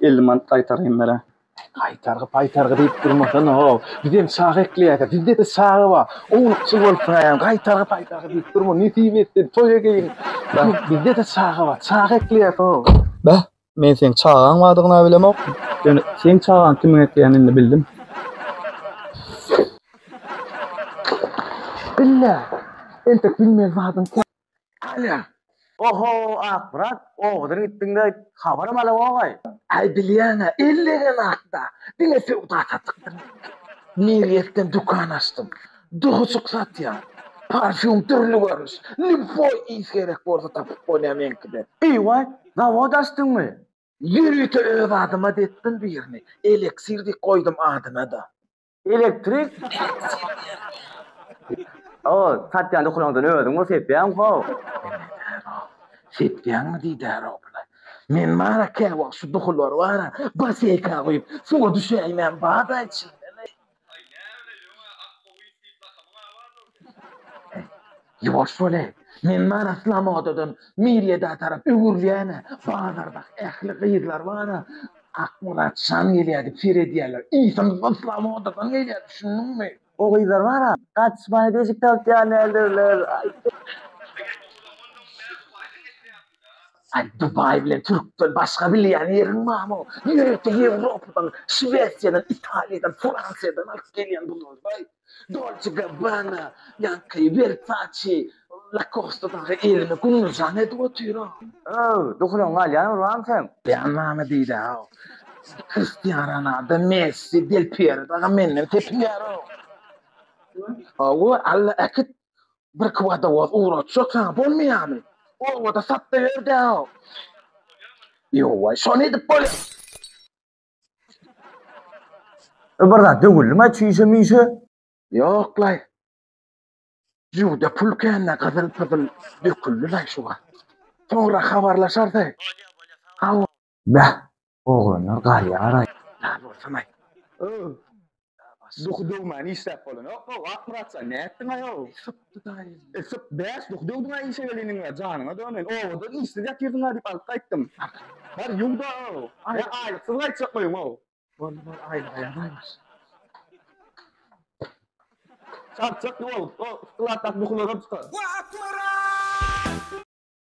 50 manat gaýtaryn bere. Gaýtargy paýtargy diýip durmasana ho. Bizem çaga ekleýäs. Bizde-de çaga bar. Ownukçy bolupsyň aýam. Gaýtargy paýtargy diýip durma. Nesip etsin toý egeýin. Bizde-de çaga bar. Çaga ekleýäs ho. Beh, men seň çagaň bardygyna bilemok. Ýöne seň çagaň kimiň ekleýänini indi bildim. Bille, entek bilmeli zadyň kän. Alýa, Oho, Akmyrat, owadan gitdiň-de, habaram alawok-aý. Aý, bilýäň-ä, ellenem atda, diňe söwda-satykdyr. Nerýesden dükan açdym. Duhuşyk satýan. Parfýum dürli görnüş. Lýuboý ýis gerek bolsa tapyp bolýar meňkide. Eý-waý, zawod açdyňmy? Ýörite öz adyma depdim birini. Eleksir diýip goýdum adyna-da. Elektrik. O, satýan ukulaňdan özüň bol sepýäň how. Sepýäňmi diýdär obla. Men bar-a käwagt şu duhular bar-a, baseýka guýup, suwa düşäýmän bada içinde-le. Aý, näme-le ýoň-a, akguýy diýip lakamyň-a bardyr. Ýuwaş bol-e, men mana Slomodadan Miryada tarap öwrülýän-ä, bazardaky ähli gyzlar bana Akmyrat şan gelýär diýip seýr edýärler. Ynsymyzam Slomodadan gelýär, düşündiňmi? O gyzlar bana gaçmaly deşik tapyp gelýändirler. Aý, Dubaý bilen türkden başga bilýän ýeriň barmy? Ýörite Ýewropadan, Şwesiýadan, Italiýadan, Fransiýadan alyp gelýän buzlarydaý. Dolce Gabbana, ýaňky Versace, Lacoste dagy elini gumlujan edip otyr-ow. Öw, dukulyň galýan urbaň sen. Jan name diýdä-ow. Kristian Ronaldo, Messi, Del Piero dagy menden tepinýär-ow. Hawa, Alla äkit, birki wodowoz ugratjak saňa, bolmaýarmy? Obada satda ýör-dä-ow. Ýowaý, şony edip bolýar. Bir zat döwüldi mi çişe mişe? Ýok laý. Ýurda pul kände gyzyl pyzyl döküldi laý şu wagt. Soňra habarlaşarsyň. Bäh, oglanlar galýaraý. Sag bolsun-aý. Duhy döwmän işläp bolanokmy? Wah, Myratjan, nätdiň-aý-ow? Sypdy daýy. E, syp, bäş duhy döwdüň-aý işe geleniňe, janyňa döneýin. Obadan işsiz ýatyrdyň-a diýip alyp gaýtdym. Bar, ýuw-da-ow. Ýa aýlyksyz gaýtjak boýuň-ow. Boldy, boldy, aýlyga ýa baýbaş. Çarçak ýuwalyp, o, yhtilatdaky duhylaram tutar. Wah, Myrat!